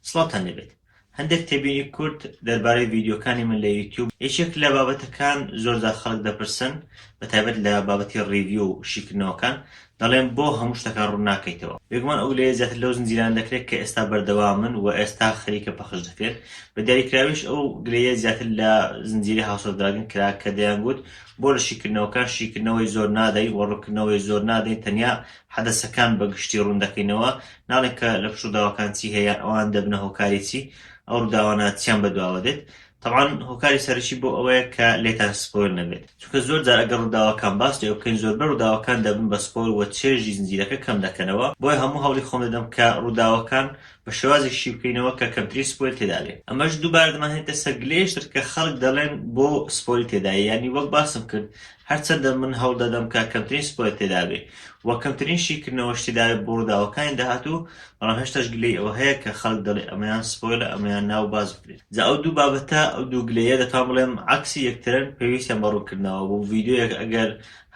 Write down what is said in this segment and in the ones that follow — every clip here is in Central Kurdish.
سڵاتان لێبێت هەندێک تێبینی کورت دەربارەی ڤیدیۆکانی من لە یوتیوب یەکێک لە بابەتەکان زۆردا خەڵک دەپرسن بە تایبەت لە بابەتی ڕیڤیو و شیکردنەوەکان دەڵێم بۆ هەموو شتەکان ڕوون ناکەیتەوە؟ بێگومان ئەو لەیە زیاتر لەو زنجیرانە دەکرێت کە ئێستا بەردەوامن و ئێستا خەریکە پەخش دەکرێن، بە دیاریکراویش ئەو گلەییە زیاتر لە زنجیرەی هاوس ئۆف دراگن کرا کە دەیانگوت بۆ لە شیکردنەوەکان شیکردنەوەی زۆر نادەین و ڕوونکردنەوەی زۆر نادەین تەنیا حەدەسەکان بە گشتی ڕوون دەکەینەوە ناڵێین کە لە پشت ڕووداوەکان چی هەیە یان ئەوان دەبنە هۆکاری چی ئەو ڕووداوانە چیان بەدواوە دێت تەبعەن هۆکاری سەرەکی بۆ ئەوەیە کە لێتان سپۆیل نەبێت چونکە زۆر جار ئەگەر ڕووداوەکان باس لێوە بکەین زۆربەی ڕووداوەکان دەبن بە سپۆیل و چێژی زنجیرەکە کەم دەکەنەوە بۆیە هەموو هەوڵی خۆم دەدەم کە ڕووداوەکان بە شێوازێک شی بکەینەوە کە کەمترین سپۆیل تێدا بێت ئەمەش دووبارە دەمانهێنێتە سەر گلەیەکی تر کە خەڵک دەڵێن بۆ سپۆیل تێدایە یانی وەک باسم کرد هەرچەندە من هەوڵ دەدەم کە کەمترین سپۆیل تێدا بێت و کەمترین شیکردنەوەش تێدا بێت بۆ ڕووداوەکانی داهاتوو بەڵام هێشتاش گلەی ئەوە هەیە کە خەڵک دەڵێ ئەمەیان سپۆیلە ئەمەیان نا و باس بکرێ جا ئەو دوو بابەتە ئەو دوو گلەیە دەتوان بڵێم عەکسی یەکترن پێویستیان بە ڕوونکردنەوە بوو ڤیدیۆیەک ئەگەر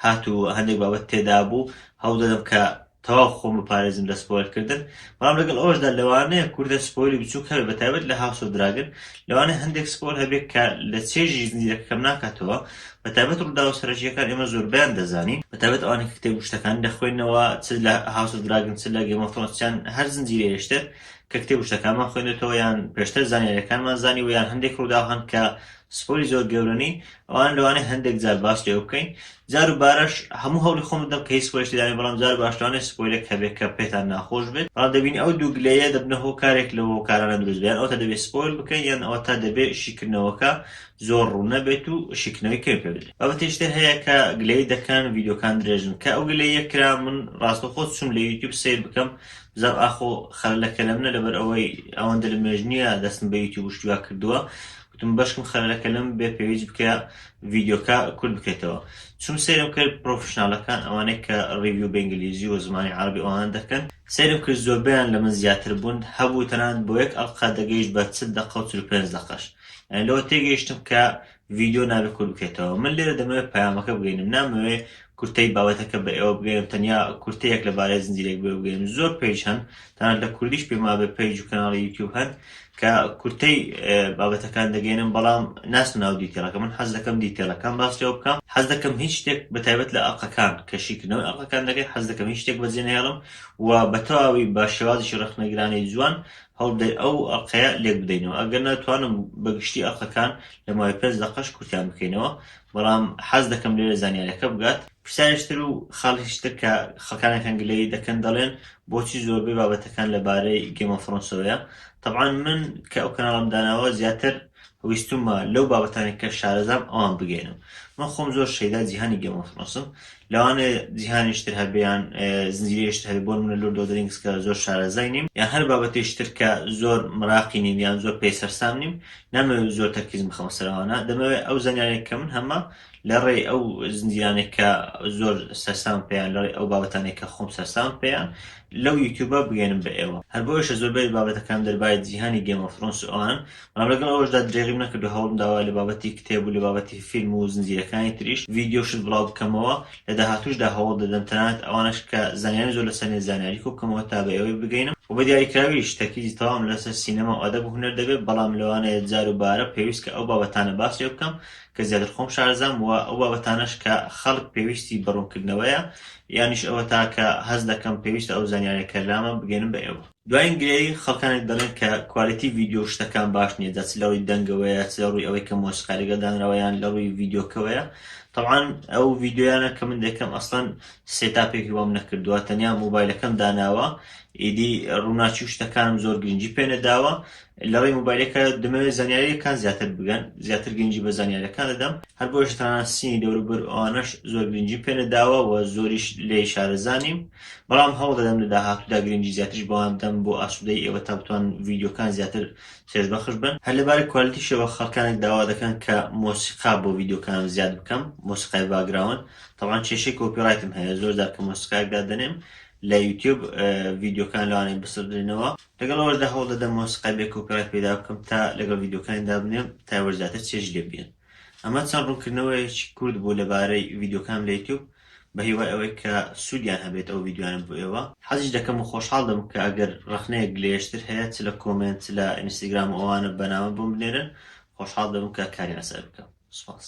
هات و هەندێک بابەت تێدا بوو هەوڵ دەدەم کە تەواو خۆم بپارێزم لە سپۆیلکردن بەڵام لەگەڵ ئەوەشدا لەوانەیە کوردە سپۆیلی بچووک هەبێت بە تایبەت لە هاوس ئۆف دراگن لەوانەیە هەندێک سپۆیل هەبێت کە لە چێژی زنجیرەکە کەم ناکاتەوە بە تایبەت ڕووداوە سەرەکییەکان ئێمە زۆربەیان دەزانین بە تایبەت ئەوانەی کە کتێب و شتەکانی دەخوێننەوە چ لە هاوس ئۆف دراگن چ لە گەیم ئۆف ثرۆنس چیان هەر زنجیرەیەشتر کە کتێب و شتەکانمان خوێندۆتەوە یان پێشتر زانیاریەکانمان زانیوە یان هەندێک ڕووداو هەن کە سپۆری زۆر گەورە نین ئەوان لەوانەیە هەندێک جار باس لێ بکەین جار و بارەش هەموو هەوڵی خۆم بدەم کە هیچ سپۆیلێکی دانێ بەڵام جار و باشتوانێت سپۆیلێک هەبێت کە پێتان ناخۆش بێت بەڵام دەبینی ئەو دوو گلەیە دەبنە هۆ کارێک لە هۆکارانە دروست بێت یان ئەوەتا دەبێت سپۆیل بکەین یان ئەوەتا دەبێت شیکردنەوەکە زۆر ڕوون نەبێت و شیکردنەوەی کەم پێ بدرێت بابەتێکی تر هەیە کە گلەیی دەکەن ڤیدیۆکان درێژن کە ئەو گلەییە کرا من ڕاستەوخۆ چووم لە یوتیوب سەیر بکەم زاپ ئاخۆ خەرە لە کەلەمنە لەبەر ئەوەی ئەوەندە لە مێژ نییە دەستم بە یوتیوب شتیا کردووە گوتم بەشکم خەرە لە کەلەم بێ پێویست بکە ڤیدیۆکە کورد بکەیتەوە چون سەیرم کرد پرۆفشنالەکان ئەوانەی کە ڕیویو بە ئینگلیزی و زمانی عەرەبی ئەوان دەکەن سەیرم کرد زۆربەیان لە من زیاتر بوون هەبوو تەنانەت بۆ یەک ئەڵقە دەگەیشت بە چل دەقە و چل و پێنج دەقەش یانی لەوە تێگەیشتم کە ڤیدیۆ نابێ کورت بکەیتەوە من لێرە دەمەوێ پەیامەکە بگەینم نامەوێ کورتەی بابەتەکە بە ئێوە بگەینم تەنیا کورتە یەک لەبارەی زنجیرەک بێ بگەینم زۆر پەیج هەن تەنانەت لە کوردیش پێم وابێ پەیج و کەناڵی یوتیوب هەن کە کورتەی بابەتەکان دەگەینم بەڵام ناچم ناو دیتێلەکە من حەز دەکەم دیتێلەکان باس لێوە بکەم حەز دەکەم هیچ شتێک بە تایبەت لە ئەڵقەکان کە شیکردنەوەی ئەڵقەکان دەکەین حەز دەکەم هیچ شتێک بەجێ نەهێڵم و بە تەواوی بە شێوازی ڕەخنەگرانەی جوان هەوڵبدەین ئەو ئەڵقەیە لێک بدەینەوە ئەگەر نەتوانم بە گشتی ئەڵقەکان لە ماوەی پێنج دەقەش کورتیان بکەینەوە بەڵام حەز دەکەم لێرە زانیارەکە بگات پرسیاریش تر و خاڵیش تر کە خەڵکانێکان گلەیی دەکەن دەڵێن بۆچی زۆربەی بابەتەکان لە بارەی گێمۆفڕۆنسەوەیە تەبعەن من کە ئەو کەناڵەم داناوە زیاتر ویستومە لەو بابەتانەی کە شارەزام ئەوان بگەینم من خۆم زۆر شەیدا جیهانی گێم ئۆف ثرۆنسم لەوانێ جیهانیش تر هەبێ یان زنجیرەیش تر هەبێ بۆ نمونە لۆرد ئۆف درینگس کە زۆر شارەزای نیم یان هەر بابەتیش تر کە زۆر مراقی نیم یان زۆر پێی سەرسام نیم نامەوێ زۆر تەرکیزم بخەمە سەر ئەوانە دەمەوێ ئەو زانیاریە کە من هەمە لە ڕێی ئەو زنجیرانێک کە زۆر سەرسام پێیان لە ڕێی ئەو بابەتانێک کە خۆم سەرسام پێیان لەو یوتیوبە بگەێنم بە ئێوە هەر بۆیشە زۆربەی بابەتەکان دەربای جیهانی گێمە فرۆنس ئەوان بەڵام لەگەڵ ئەوشدا درێغیم نەکردو هەوڵم داوا لە بابەتی کتێب و لە بابەتی فیلم و زنجیرەکانی تریش ڤیدیۆ شت بڵاو بکەمەوە لە داهاتوشدا هەوڵ دەدەم تەنانەت ئەوانەش کە زانیاری زۆر لەسەر نیە زانیاری کۆبکەمەوە تا بە ئێوەی بگەینم و بە دیاریکراویش تەرکیزی تەواوم لەسەر سینەما و ئەدەب و هونەر دەبێت بەڵام لەوانەیە جار و بارە پێویست کە ئەو بابەتانە باسیان بکەم کە زیاتر خۆم شارەزام وە ئەو بابەتانەش کە خەڵک پێویستی بە ڕوونکردنەوەیە یانیش ئەوەتا کە هەست دەکەم پێویستە ئەو زانیاریە کە لامە بگەینم بە ئێوە. دواین گرێی، خەڵکانێک دەڵێن کە کوالیتی ڤیدیۆ و شتەکان باش نیە جا چ لە ڕووی دەنگەوەیە چ لە ڕووی ئەوەی کە مۆسیقای لەگەڵ دانراوە یان لە ڕووی ڤیدیۆکەوەیە تەبعەن ئەو ڤیدیۆیانە کە من دەکەم ئەسڵەن سێتاپێکی وام نەکردووە تەنیا مۆبایلەکەم داناوە ئیدی ڕووناکی و شتەکانم زۆر گرنگی پێ نەداوە لەڕێی مۆبایلەکە دەمەوێت زانیاریەکان زیاتر بگەن زیاتر گرنگی بە زانیارەکان دەدەم هەر بۆش تانسینی دەوروبەر ئەوانەش زۆر گرنگی پێ نەداوە و زۆریش لێ شارەزانیم بەڵام هەوڵ دەدەم لە داهاتوودا گرنگی زیاترش بەوان بدەم بۆ ئاسوودەی ئێوە تا بتوان ڤیددیوکان زیاتر چێژبەخش بن هەر لەبارە کوالیتیشەوە خەڵکانێک داوا دەکەن کە مۆسیقا بۆ ڤیددیوکانم زیاد بکەم مۆسیقای باگراون تەوان کێشەی کۆپیڕایتم هەیە زۆر دار کە مۆسیقایەک دادەنێم لە یوتیوب ڤیددیوکان لەوانێ بسڕدرێنەوە لەگەڵ ئەوەشدا هەوڵ دەدەم مۆسیقای بێ کۆپیڕایت پەیدا بکەم تا لەگەڵ ڤیدیۆکانی دابنێم تا ئێوەش زیاتر چێژ لێ ببینن. ئەمە چەند ڕوونکردنەوەیەکی کورت بوو لەبارەی ڤیدیۆکانم لە یوتیوب بە هیوای ئەوەی کە سوودیان هەبێت ئەو ڤیدیۆیانە بۆ ئێوە. حەزیش دەکەم و خۆشحاڵ دەبم کە ئەگەر ڕەخنەیەک گلەیەشتر هەیە چ لە کۆمێنت چ لە ئینستاگرام و ئەوانە بە نامە بۆم بنێرن خۆشحاڵ دەبم کە کاری لەسەر بکەم. سوپاس.